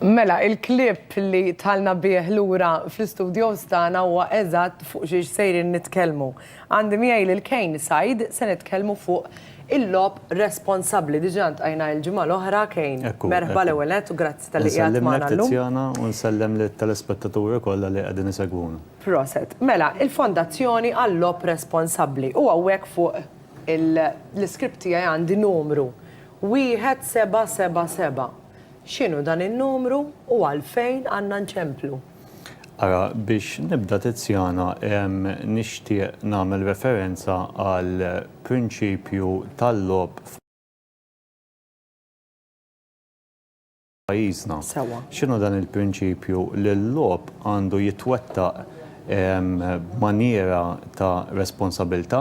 Mela, il-clip li dħalna bih lura fl-istudios tagħna huwa eżatt fuq xiex sejrin nitkellmu. Għandi miegħi lil Kane Said, se nitkellmu fuq il-logħob responsabbli. Diġà ltqajna l-ġimgħa l-oħra, Kane. Merħba l-ewwel nett u grazzi talli qiegħed magħna llum. Insellmek Tiziana u nsellem lit-telespettaturi kollha li qegħdin isegwuna. Proset. Mela, il-Fondazzjoni għal-Logħob Responsabbli u hawnhekk fuq l-iscript tiegħi għandi numru Wieħed seba' seba' seba'. X'inhu dan in-numru u għalfejn għandna nċemplu? Ara, biex nibda Tiziana, nixtieq nagħmel referenza għal prinċipju tal-logħob. pajjiżna. Sewwa. X'inhu dan il-prinċipju li l-logħob għandu jitwettaq b'manjiera ta' responsabilità,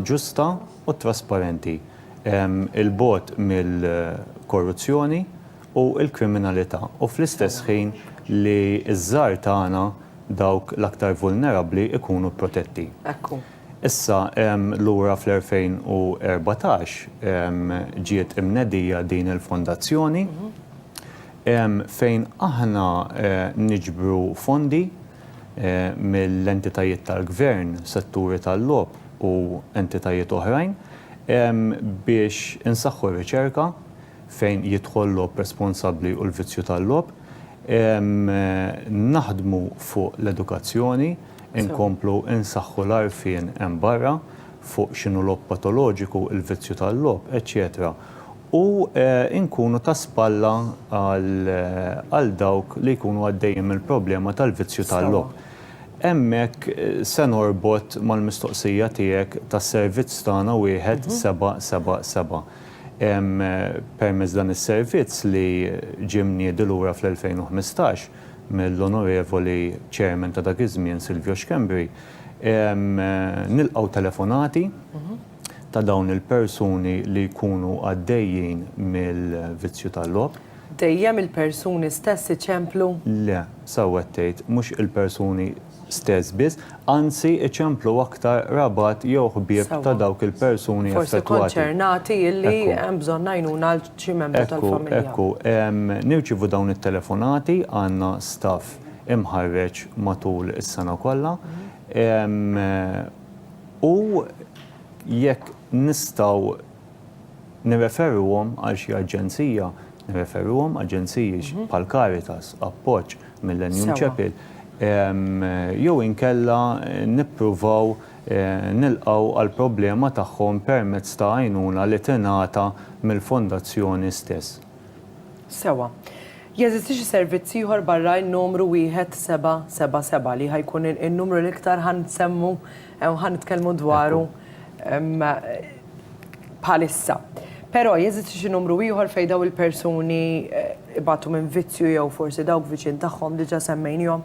ġusta u trasparenti, 'il bogħod mill-korruzzjoni u l-kriminalità, u fl-istess ħin li ż-żgħar tagħna, dawk l-aktar vulnerabbli, ikunu protetti. Hekk hu. Issa, lura fl-2014 ġiet imnedija din il-fondazzjoni fejn aħna niġbru fondi mill-entitajiet tal-gvern, setturi tal-logħob u entitajiet oħrajn biex insaħħu r-riċerka fejn jidħol logħob responsabbli u l-vizzju tal-logħob, naħdmu fuq l-edukazzjoni, Inkomplu nsaħħu l-għarfien hemm barra fuq x'inhu logħob patoloġiku, il-vizzju tal-logħob, eċċetera u nkunu ta' spalla għal dawk li jkunu għaddejjin mill-problema tal-vizzju tal-logħob. Hemmhekk se norbot mal-mistoqsija tiegħek tas-servizz tagħna wieħed seba' seba' seba'. Permezz dan is-servizz li ġie mniedi lura fl-2015, mill-Onorevoli Chairman ta' dak iż-żmien Silvio Schembri, nilqgħu telefonati ta' dawn il-persuni li jkunu għaddejjin mill-vizzju tal-logħob. Dejjem il-persuni stess iċemplu? Le, sew qed tgħid, mhux il-persuni stess biss, anzi iċemplu aktar rabat jew ħbieb ta' dawk il-persuni affettwati. Ekku, ekku, nirċievu dawn it-telefonati, għandna staff imħarreġ matul is-sena kollha u jekk nistgħu Nirreferuhom għal xi aġenzija, nirreferuhom aġenziji bħal Caritas, Appoġġ, Millennium Chapel, jew inkella nippruvaw nilqgħu għall-problema tagħhom permezz ta' għajnuna li tingħata mill-Fondazzjoni stess. Sewa. Jeżisti xi servizz ieħor barra n-numru wieħed seba' seba' seba' li ħa jkun in-numru l-iktar ħa nsemmu Ew ħa nitkellmu dwaru bħalissa. Però jeżisti xi numru ieħor fejn daw il-persuni ibatu minn vizzju jew forsi dawk viċin tagħhom diġà semmejniehom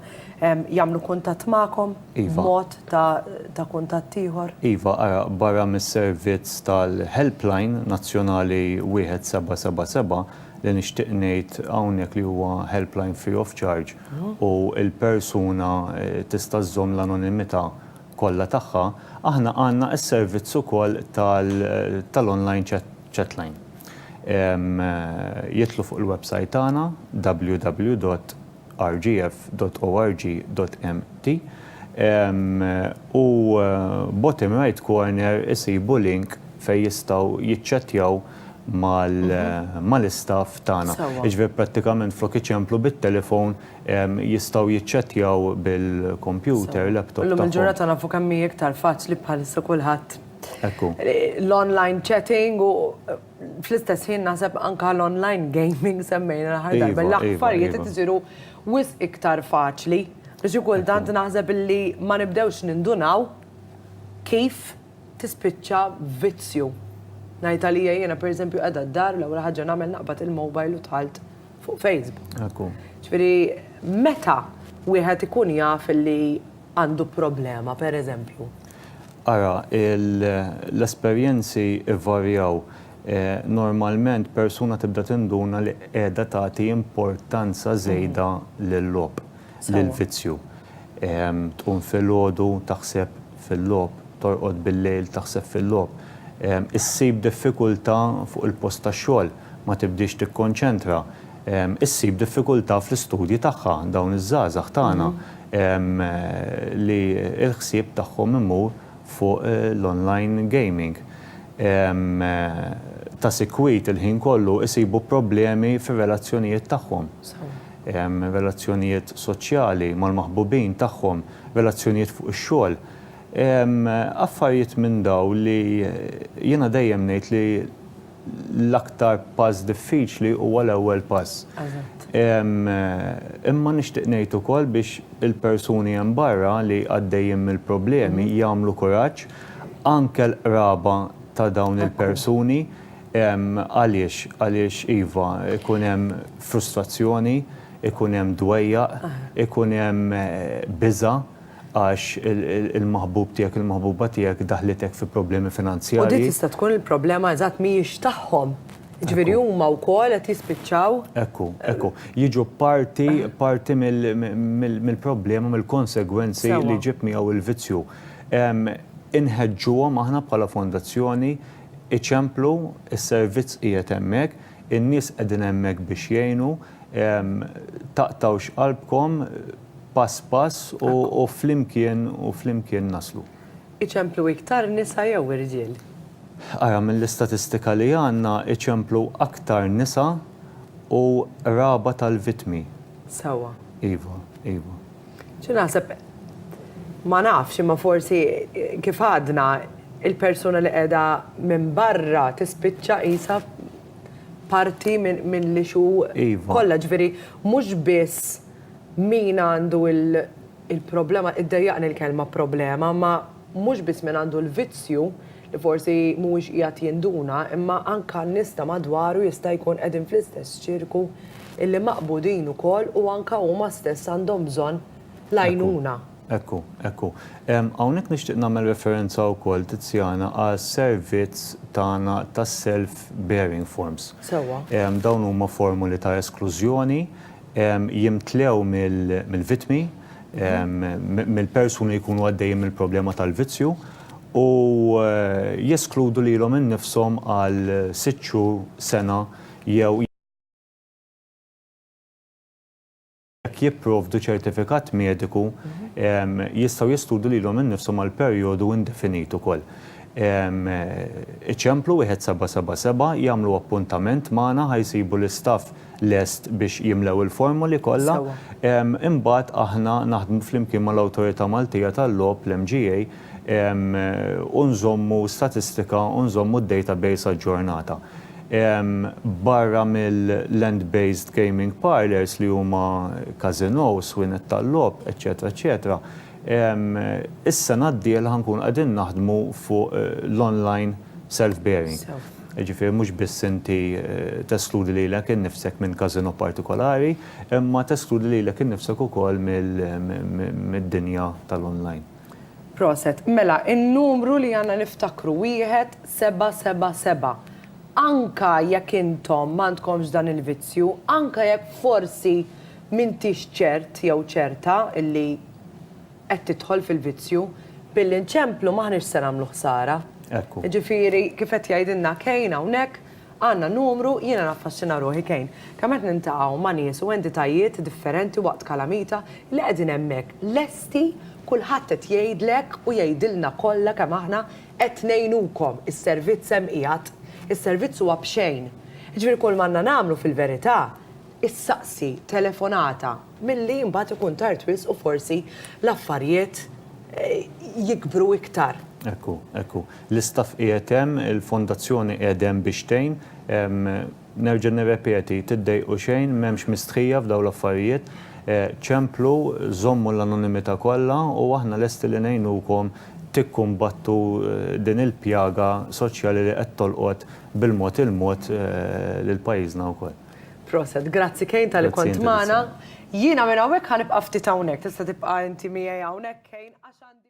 jagħmlu kuntatt magħkom b'mod ta' kuntatt ieħor? Iva, ara, barra mis-servizz tal-helpline nazzjonali 1777 li nixtieq ngħid hawnhekk li huwa helpline free of charge, u l-persuna tista' żżomm l-anonimità kollha tagħha, aħna għandna s-servizz ukoll tal-online chatline. Jidħlu fuq il-websajt tagħna www.rgf.org.mt u bottom right corner isibu link fejn jistgħu jiċċattjaw mal-istaff tagħna. Jiġifieri prattikament flok iċemplu bit-telefon jistgħu jiċċettjaw bil-kompjuter, laptop tagħhom. Illum il-ġurnata nafu kemm hi iktar faċli bħalissa kulħadd. Ekku. L-online chatting u fl-istess ħin naħseb anke l-online gaming semmejna l-aħħar darba. L-affarijiet qed isiru wisq iktar faċli. Xi kultant naħseb illi ma nibdewx nindunaw kif. tispiċċa vizzju. Ngħid għalija jiena pereżempju qiegħda d-dar l-ewwel ħaġa nagħmel naqbad il-mobile u dħalt fuq Facebook. Ekku. Ġifieri meta wieħed ikun jaf li għandu problema pereżempju? Ara, l-esperjenzi jvarjaw. Normalment persuna tibda tinduna li qiegħda tagħti importanza żejda lil-logħob. l-vizzju. Tqum filgħodu taħseb fil-logħob, torqod bil-lejl taħseb fil-logħob. Issib diffikultà fuq il-post tax-xogħol, ma tibdiex tikkonċentra. Issib diffikultà fl-istudji tagħha dawn iż-żgħażagħ tagħna li l-ħsieb tagħhom imur fuq l-online gaming. Ta' sikwit il-ħin kollu isibu problemi fir-relazzjonijiet tagħhom. relazzjonijiet soċjali mal-maħbubin tagħhom, relazzjonijiet fuq ix-xogħol, affarijiet minn dawn li jiena dejjem ngħid li l-aktar pass diffiċli huwa l-ewwel pass. Imma nixtieq ngħid ukoll biex il-persuni hemm barra li għaddejjin mill-problemi jagħmlu kuraġġ, anke l-qraba ta' dawn il-persuni, Għaliex? Għaliex iva, ikun hemm frustrazzjoni, ikun hemm dwejjaq, ikun hemm biża' għax il-maħbub tiegħek, il-maħbuba tiegħek daħlitek fi problemi finanzjarji. U din tista' tkun il-problema eżatt mhijiex tagħhom. Jiġifieri huma wkoll qed jispiċċaw. Ekku, ekku. Jiġu parti, parti mill-problema, mill-konsegwenzi li jġib miegħu l-vizzju. Inħeġġuhom aħna bħala fondazzjoni, Iċemplu, is-servizz qiegħed hemmhekk, in-nies qegħdin hemmhekk biex jgħinu, taqtgħux qalbkom, pass pass u flimkien u flimkien naslu. Iċemplu iktar nisa jew irġiel? Ara, mill-istatistika li għandna iċemplu aktar nisa u qraba tal-vittmi. Sewwa. Iva, iva. Xi naħseb ma nafx imma forsi kif għadna il-persuna li qiegħda minn barra tispiċċa qisha parti minn li xu kollha ġifieri mhux biss min għandu il-problema, iddejjaqni l-kelma problema, ma mhux biss min għandu l-vizzju li forsi mhuwiex qiegħed jinduna imma anke n-nies ta' madwaru jista' jkun qegħdin fl-istess ċirku illi maqbudin ukoll u anke huma stess għandhom bżonn l-għajnuna. Ekku, ekku. Hawnhekk nixtieq nagħmel referenza wkoll, Tiziana, għas-servizz tagħna tas-self bearing forms. Sewwa. Dawn huma formoli ta' esklużjoni jimtlew mill-vittmi, mill-persuni li jkunu għaddejjin mill-problema tal-vizzju u jeskludu lilhom innifshom għal sitt xhur, sena jew jekk jipprovdu ċertifikat mediku jistgħu jeskludu lilhom innifshom għal perjodu indefinit ukoll. Iċemplu 1777, jagħmlu appuntament magħna ħa jsibu l-istaff lest biex jimlew il-formoli kollha. Imbagħad aħna naħdmu flimkien mal-Awtorità Maltija tal-Logħob, l-MGA, u nżommu statistika u nżommu d-database aġġornata. Barra mill-land based gaming parlours li huma każinòs, wienet tal-logħob, eċċetera eċċetera, is-sena d-dieħla ħa nkunu qegħdin naħdmu fuq l-online self bearing. Jiġifieri mhux biss inti teskludi lilek innifsek minn każinò partikolari, imma teskludi lilek innifsek ukoll mid-dinja tal-online. Proset. Mela n-numru li għandna niftakru wieħed seba' seba' seba'. Anka jekk intom m'għandkomx dan il-vizzju, anka jekk forsi m'intix ċert jew ċerta illi, qed tidħol fil-vizzju, billi nċemplu m'aħniex se nagħmlu ħsara. Ekku. Jiġifieri kif qed jgħidilna Kane hawnhekk, għandna numru, jiena naffaxxina ruħi Kane, kemm qed niltaqgħu ma' nies u entitajiet differenti waqt kalamita li qegħdin hemmhekk lesti, kulħadd qed jgħidlek u jgħidilna kollha kemm aħna qed ngħinukom, is-servizz hemm qiegħed, is-servizz huwa b'xejn. Jiġifieri kull m'għandna nagħmlu fil-verità, issaqsi, telefonata, Milli mbagħad ikun tard wisq u forsi l-affarijiet jikbru iktar. Hekk hu, hekk hu. L-istaff qiegħed hemm, il-fondazzjoni qiegħda hemm biex tgħin. Nerġa' nirrepeti, tiddejqu xejn, m'hemmx mistħija f'dawn l-affarijiet. Ċemplu, żommu l-anonimità kollha u aħna lesti li ngħinukom tikkumbattu din il-pjaga soċjali li qed tolqot bil-mod il-mod lil pajjiżna wkoll. Proset, grazzi Kane tal-li kont magħna. Jiena minn hawnhekk ħa nibqa' ftit hawnhekk, tista' tibqa' inti miegħi hawnhekk Kane għax għandi